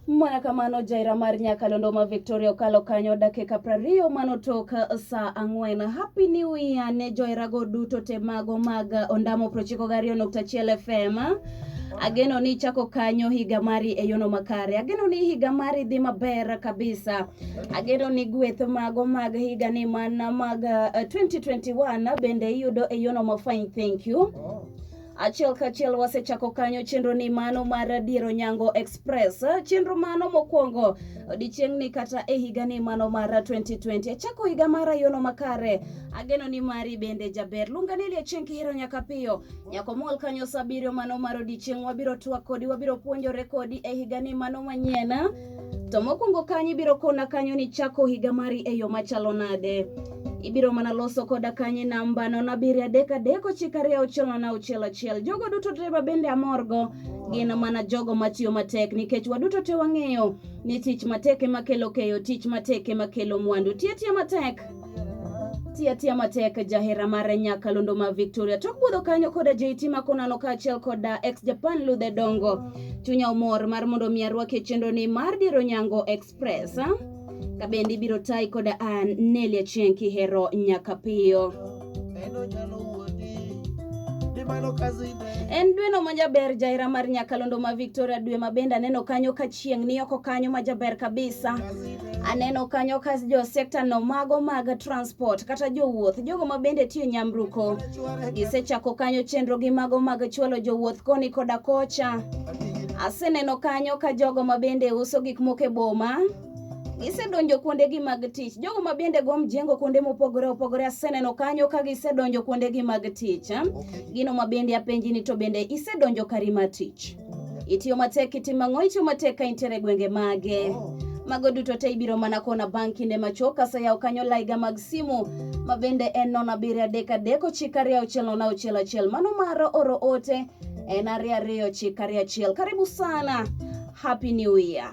Mana kamano jaira mar Nyakalondo ma Victoria okalo kanyo dakika prariyo manotok saa ang'wen. Happy New Year ne joirago duto te mago mag Ondamo prochiko gariyo nukta achiel FM. Ageno ni chako kanyo higa mari e yono makare. Ageno ni higa mari dhi maber kabisa. Ageno ni gweth mago mag higa ni mana mag uh, 2021 bende iyudo e yono mafine. Thank you. Achiel kachiel wasechako kanyo chenro ni mano mar Dier Onyango Express. Chenro mano mokwongo odichieng'ni kata e higa ni mano mar 2020. Achako higa mara yono makare. Ageno ni mari bende jaber. Lunga ni Liachieng' kihero nyaka piyo. Nyako mol kanyo sabiriyo mano mar odichieng' wabiro twak kodi wabiro puonjore kodi e higa ni mano manyien. To mokwongo kanyo ibiro kona kanyo ni chako higa mari e yo machalo nade. Ibiro mana loso koda kanye namba nono abiriyo adek adek ochiko ariyo auchiel nono auchiel achiel. Jogo duto te ma bende amorgo gin mana jogo matiyo matek nikech waduto te wang'eyo ni tich matek ema kelo keyo, tich matek ema kelo mwandu. Tiyo atiya matek Tia tia matek jahera mar nyakalondo ma Victoria tok budho kanyo koda JT Makonano kaachiel koda ex Japan Ludhe Dongo. Chunya omor mar mondo mi arwake chenro ni mar Diro Nyango Express. Kabendi biro tai koda an Nelia Chieng kihero nyaka piyo. En dweno ma jaber jaera mar nyakalondo ma Victoria dwe ma bende aneno kanyo ka chieng' ni oko kanyo ma jaber kabisa. Aneno kanyo ka jo sekta no mago mag transport kata jowuoth jogo ma bende tiyo nyamruko gisechako kanyo chenro gi mago mag chwalo jowuoth koni koda kocha. Aseneno kanyo ka jogo ma bende uso gik moko e boma gisedonjo kuondegi mag tich. Jogo ma bende go mjengo kuonde mopogore opogore aseneno kanyo ka gisedonjo kuondegi mag tich. Gino ma bende apenji ni to bende isedonjo kari mar tich? Itiyo matek itimo ang'o? Itiyo matek ka intiere e gwenge mage? Mago duto te ibiro mana kona bang' kinde machuok kaseyawo kanyo laiga mag simu ma bende en nono abiriyo adek adek ochiko ariyo auchiel nono auchiel achiel. Mano mar oro ote en ariyo ariyo ochiko ariyo achiel. Karibu sana. Happy New Year.